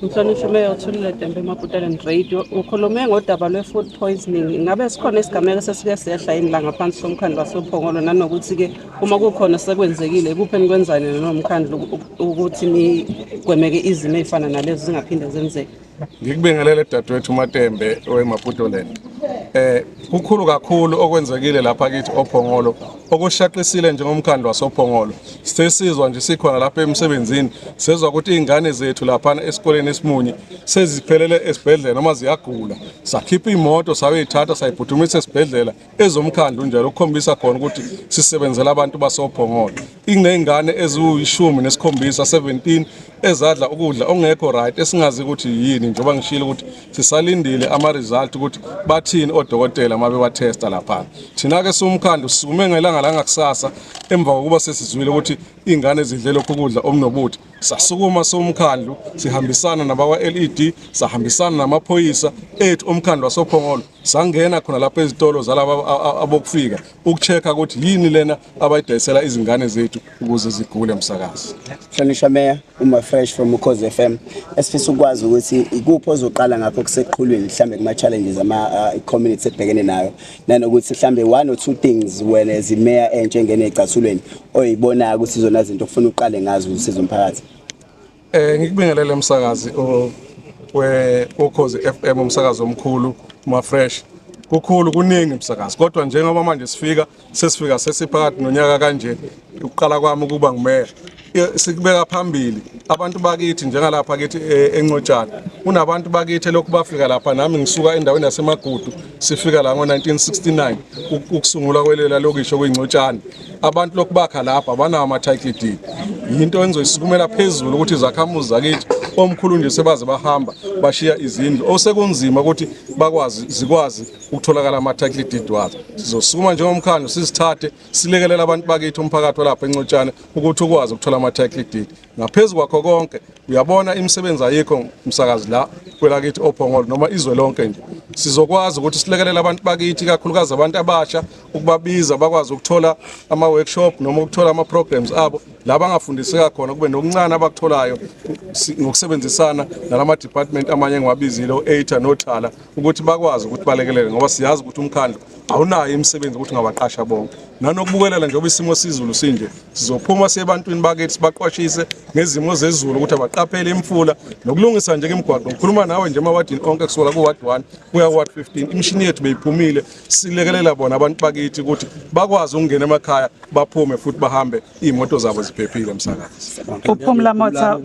Mhlonishwa Meya uthulile Dembe Maputelen Radio ukhulume ngodaba lwe-food poisoning ingabe sikhona isigameko sesike sehla yini la ngaphansi somkhandlu wasophongolo nanokuthi-ke uma kukhona sekwenzekile ikuphi enikwenzani nomkhandlu ukuthi nigwemeke izimo ey'fana nalezo zingaphinde zenzeke ngikubingelele dadewethu umatembe wemaputoland um eh, kukhulu kakhulu okwenzekile lapha kithi ophongolo Okushaqisile njengomkhandlu wasoPhongolo sesizwa nje sikhona lapha emsebenzini sezwa ukuthi izingane zethu laphana esikoleni esimunye seziphelele esibhedlela noma ziyagula sakhipha imoto sayoyithatha sayiphuthumisa esibhedlela ezomkhandlu njalo ukukhombisa khona ukuthi sisebenzela abantu basoPhongolo ingezingane eziwishumi nesikhombisa 17 ezadla ukudla ongekho right esingazi ukuthi yini njengoba ngishilo ukuthi sisalindile ama result ukuthi bathini odokotela uma bewatesta lapha thina ke siwumkhandlu sisukume ngelanga la ngakusasa emva kokuba sesizwile ukuthi ingane ezidle lokhu kudla omnobuthi sasukuma siwumkhandlu sihambisana nabakwa LED sahambisana namaphoyisa ethu omkhandlu wasophongolo sangena khona lapha ezitolo zalaba abokufika ukuchecka ukuthi yini lena abayidayisela izingane zethu ukuze zigule msakazi Hlonishwa Mayor uma fresh from Ukhozi FM esifisa ukwazi ukuthi ikuphi ozoqala ngakho kuseqhulwini mhlambe kuma challenges ama uh, community ebhekene nayo nanokuthi mhlambe one or two things wena as mayor entshe ngene ecathulweni oyibona ukuthi izona zinto ufuna uqale ngazo usizo umphakathi Eh ngikubingelele msakazi we ukhozi FM umsakazi omkhulu ma fresh. Kukhulu kuningi msakazi kodwa njengoba manje sifika sesifika sesiphakathi nonyaka kanje ukuqala kwami ukuba ngumeya sikubeka phambili abantu bakithi njengalapha kithi e, eNcotshana kunabantu bakithi lokhu bafika lapha nami ngisuka endaweni yasemagudu sifika la ngo-1969 ukusungulwa kwelela lokisho kuyingcotshana abantu lokubakha lapha abanawo ama-title deed yinto engizoyisukumela phezulu ukuthi izakhamuzi zakithi omkhulu nje sebaze bahamba bashiya izindlu osekunzima ukuthi bakwazi zikwazi ukutholakala ama-title deed wazo sizosukuma njengomkhandlu sizithathe silekelela abantu bakithi umphakathi walapha encotshane ukuthi ukwazi ukuthola ama-title deed ngaphezu kwakho konke uyabona imisebenzi ayikho msakazi la kwelakithi ophongolo noma izwe lonke nje sizokwazi ukuthi silekelele abantu bakithi kakhulukazi abantu abasha ukubabiza bakwazi ukuthola ama workshop noma ukuthola ama programs abo la bangafundiseka khona kube nokuncane abakutholayo ngokusebenzisana nalama department amanye engiwabizile o-ATA noThala ukuthi bakwazi ukuthi balekelele ngoba siyazi ukuthi umkhandlu awunayo imisebenzi ukuthi ngabaqasha bonke nanokubukelela njengoba isimo sizulu sinje sizophuma sebantwini bakithi sibaqwashise ngezimo zezulu ukuthi abaqaphele imfula nokulungisa nje imigwaqo ngikhuluma nawe nje emawadini onke kusuka ku-ward 1 kuya ku-ward 15 imishini yethu beyiphumile silekelela bona abantu bakithi ukuthi bakwazi ukungena emakhaya baphume futhi bahambe iy'moto zabo ziphephile msakazi uphumla motha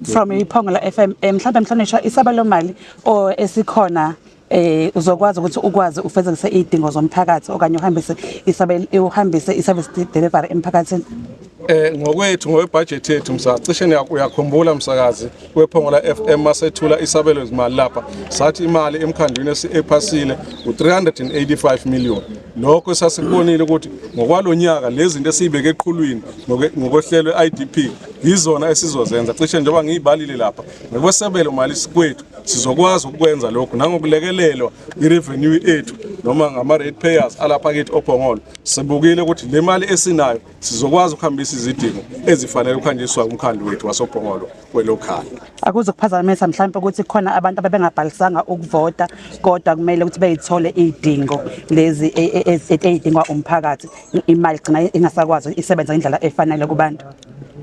from iphongo la FM eh, mhlawumbe mhlonishwa isabelo mali o esikhona eh uzokwazi ukuthi ukwazi ufezekise idingo zomphakathi okanye uhambise isabelo uhambise iservice delivery emphakathini Eh ngokwethu ngokwebudget yethu msa cishe uyakhumbula msakazi wePhongola FM masethula isabelo zimali lapha sathi imali emkhandlwini esiphasile u385 million lokho sasikubonile ukuthi ngokwalonyaka lezi zinto esibeke eqhulwini ngokwehlelo IDP yizona esizozenza cishe njengoba ngiyibalile lapha ngokwesabelo mali sikwethu sizokwazi ukwenza lokho nangokulekelelwa irevenue ethu noma ngama rate payers alapha kithi oPhongolo sibukile ukuthi le mali esinayo sizokwazi ukuhambisa izidingo ezifanele ukuhanjiswa umkhandlu wethu wasopongolo kwelokhaya akuzokuphazamisa mhlawumbe ukuthi khona abantu ababengabhalisanga ukuvota kodwa kumele ukuthi beyithole idingo lezi e, e, e, edingwa umphakathi imali gcina ingasakwazi isebenza indlela efanele kubantu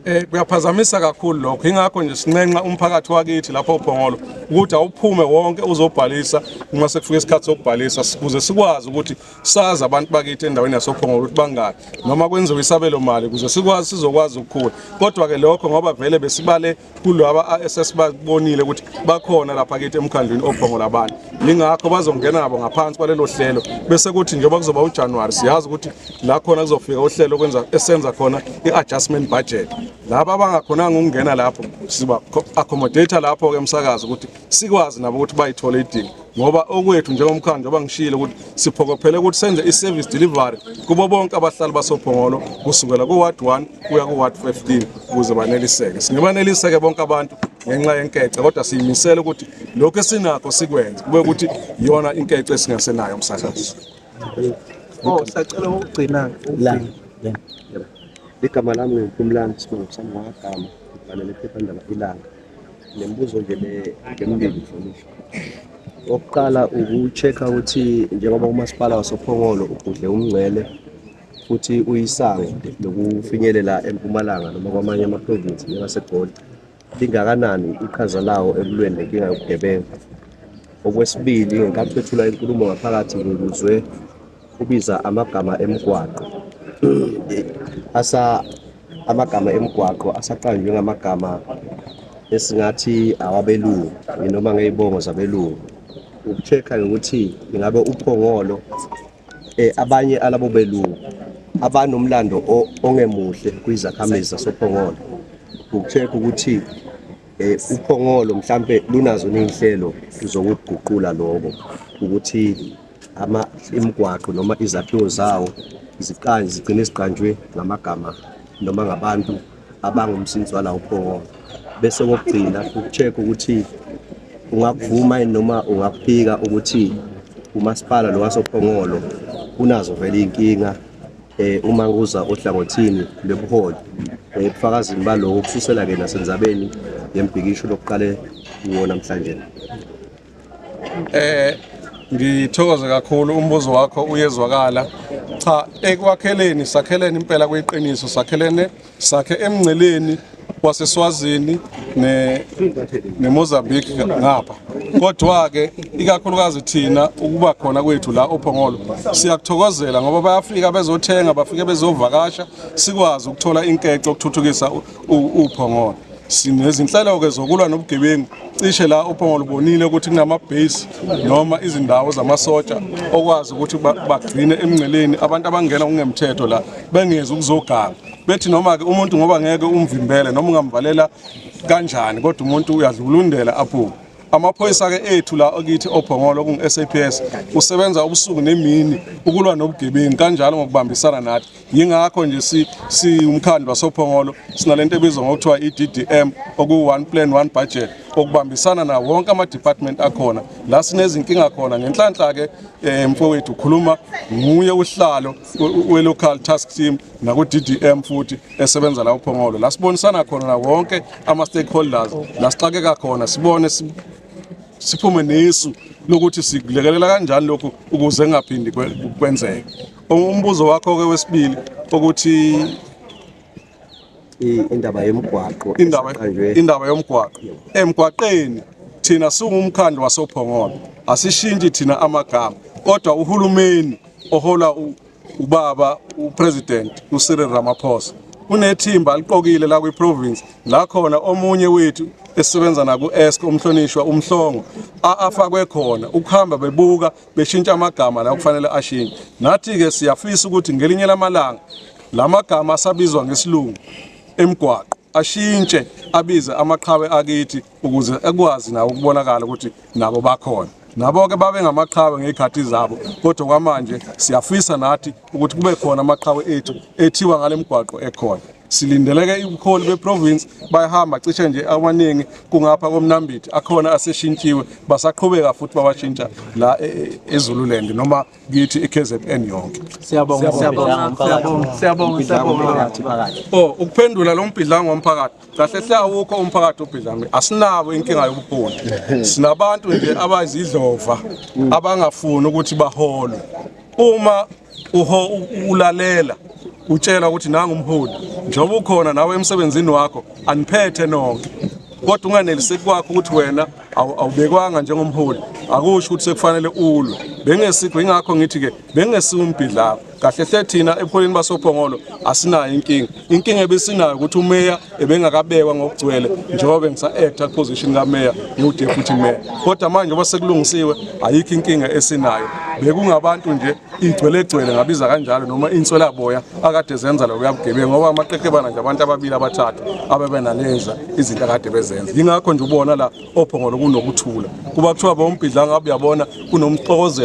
eh kuyaphazamisa kakhulu lokho ingakho nje sinxenxa umphakathi wakithi lapho ophongolo ukuthi awuphume wonke uzobhalisa uma sekufika isikhathi sokubhalisa ukuze sikwazi ukuthi sazi abantu bakithi endaweni yasophongolo ukuthi bangaki noma kwenziwe isabelo mali kuze sikwazi sizokwazi ukukhula kodwa ke lokho ngoba vele besibale kulaba esesibabonile ukuthi bakhona lapha kithi emkhandlwini ophongola abantu lingakho bazongena nabo ngaphansi kwalelo hlelo bese kuthi njengoba kuzoba uJanuary siyazi ukuthi la khona kuzofika uhlelo kwenza esenza khona iadjustment budget laba abangakhonanga ukungena lapho siba accommodate lapho ke umsakazo ukuthi sikwazi nabo ukuthi bayithole idingo ngoba okwethu njengomkhandlu njengoba ngishilo ukuthi siphokophele ukuthi senze i-service delivery kubo bonke abahlali basophongolo kusukela ku-ward 1 kuya ku-ward 15 ukuze baneliseke singebaneliseke bonke abantu ngenxa yenkece kodwa siyimisele ukuthi lokhu esinakho sikwenze kube ukuthi yona inkece esingasenayo umsakazi oh sacela ukugcina ligama lami ngumphumlani sibongo sami wagama ngibhalele iphephandaba ilanga Le mbuzo nje le ngemimbili mhlonishwa. Okokuqala uku-check-a ukuthi njengoba umasipala wasoPhongolo ugudle umngcele futhi uyisango lokufinyelela eMpumalanga noma kwamanye amaprovinsi njengaseGoli, lingakanani iqhaza lawo ekulweni nenkinga yobugebengu? Okwesibili, ngenkathi bethula inkulumo ngaphakathi ngikuzwe Ubiza amagama emgwaqo asa amagama emgwaqo asaqanjwe ngamagama esingathi awabelungu noma ngey'bongo zabelungu uku-check-a ukuthi ingabe uphongolo um abanye alabo belungu abanomlando ongemuhle kwizakhamizi zasophongolo uku-check-a ukuthi eh uphongolo mhlambe lunazo nezinhlelo zokuguqula lokho ukuthi ama imigwaqo noma izakhiwo zawo ziqanje zigcine ziqanjwe ngamagama noma ngabantu abangumsinsi walawo phongo bese kokugcina uku-check ukuthi ungakuvuma yini noma ungakuphika ukuthi umasipala lo wasophongolo unazo vele iy'nkinga eh uma kuza ohlangothini lobuholi eh bufakazini baloko kususela ke nasenzabeni yembhikisho lokuqale kuwo namhlanje Eh ngithokoze kakhulu umbuzo wakho uyezwakala cha ekwakheleni sakheleni impela kuyiqiniso sakhelene sakhe emngceleni waseSwazini ne neMozambique ngapha kodwa ke ikakhulukazi thina ukuba khona kwethu la oPhongolo siyakuthokozela ngoba bayafika bezothenga bafike bezovakasha sikwazi ukuthola inkece ukuthuthukisa uphongolo sinezinhlelo-ke zokulwa nobugebengu cishe la uphongolo ubonile ukuthi kunama-base noma izindawo zamasotsha okwazi ukuthi bagcine emngceleni abantu abangena kungemthetho la bengezi ukuzoganga bethi noma-ke umuntu ngoba ngeke umvimbele noma ungamvalela kanjani kodwa umuntu uyadlulundela aphume amaphoyisa-ke ethu la okithi ophongolo okungu-saps usebenza ubusuku nemini ukulwa nobugebengu kanjalo ngokubambisana nathi yingakho nje si siwumkhandlu wasophongolo sinalento ebizwa ngokuthiwa i-DDM okuyi-one plan one budget okubambisana na wonke ama-department akhona la sinezinkinga khona ngenhlanhla-ke um mfowethu ukhuluma nguye uhlalo we-local task team naku-DDM futhi esebenza la uphongolo la sibonisana khona na wonke ama-stakeholders la sixakeka khona sibone siphume nesu lokuthi sikulekelela kanjani lokhu ukuze kungaphindi kwenzeke Umbuzo wakho ke wesibili ukuthi indaba yomgwaqo indaba indaba yomgwaqo emgwaqeni thina singumkhandlu wasophongolo asishintshi thina amagama kodwa uhulumeni ohola ubaba upresident uCyril Ramaphosa unethimba aliqokile la kwiprovince la khona omunye wethu esisebenza naku-esk umhlonishwa umhlongo afakwe khona ukuhamba bebuka beshintsha amagama la kufanele ashintshe nathi-ke siyafisa ukuthi ngelinye lamalanga la magama asabizwa ngesilungu emgwaqo ashintshe abize amaqhawe akithi ukuze ekwazi nawo ukubonakala ukuthi nabo bakhona nabo-ke babe ngamaqhawe ngey'khathi zabo kodwa kwamanje siyafisa nathi ukuthi kube khona amaqhawe ethu ethiwa ngale mgwaqo ekhona silindeleke ubuholi beprovince bayahamba cishe nje amaningi kungapha komnambithi akhona aseshintshiwe basaqhubeka futhi babashintsha la e, e, ezululand noma kithi eKZN yonke siyabonga siyabonga siyabonga siyabonga oh ukuphendula lo mbhidlango womphakathi kahle hle awukho umphakathi obhidlango asinabo inkinga yobuholi sinabantu nje abazidlova abangafuni ukuthi baholwe uma uho ulalela utshela ukuthi nanga umholi njengoba ukhona nawe emsebenzini wakho aniphethe nonke kodwa unganeliseki kwakho ukuthi wena awubekwanga njengomholi akusho ukuthi sekufanele ulwe bengesikho ingakho ngithi ke bengesiwumbhidlako kahle hle thina ebuholini basophongolo asinayo inkinga inkinga ebesinayo ukuthi umeya ebengakabekwa ngokugcwele njengoba bengisa-acta position kameya ngiwudeputy meya kodwa manje ngoba sekulungisiwe ayikho inkinga esinayo bekungabantu nje igcwelegcwele ngabiza kanjalo noma inswelaboya akade zenza lokuya bugebengu ngoba amaqeqebana nje abantu ababili abathathu abebenaleza izinto akade bezenza yingakho nje ubona la ophongolo kunokuthula kuba kuthiwa bombhidlanga uyabona kunomxokozelo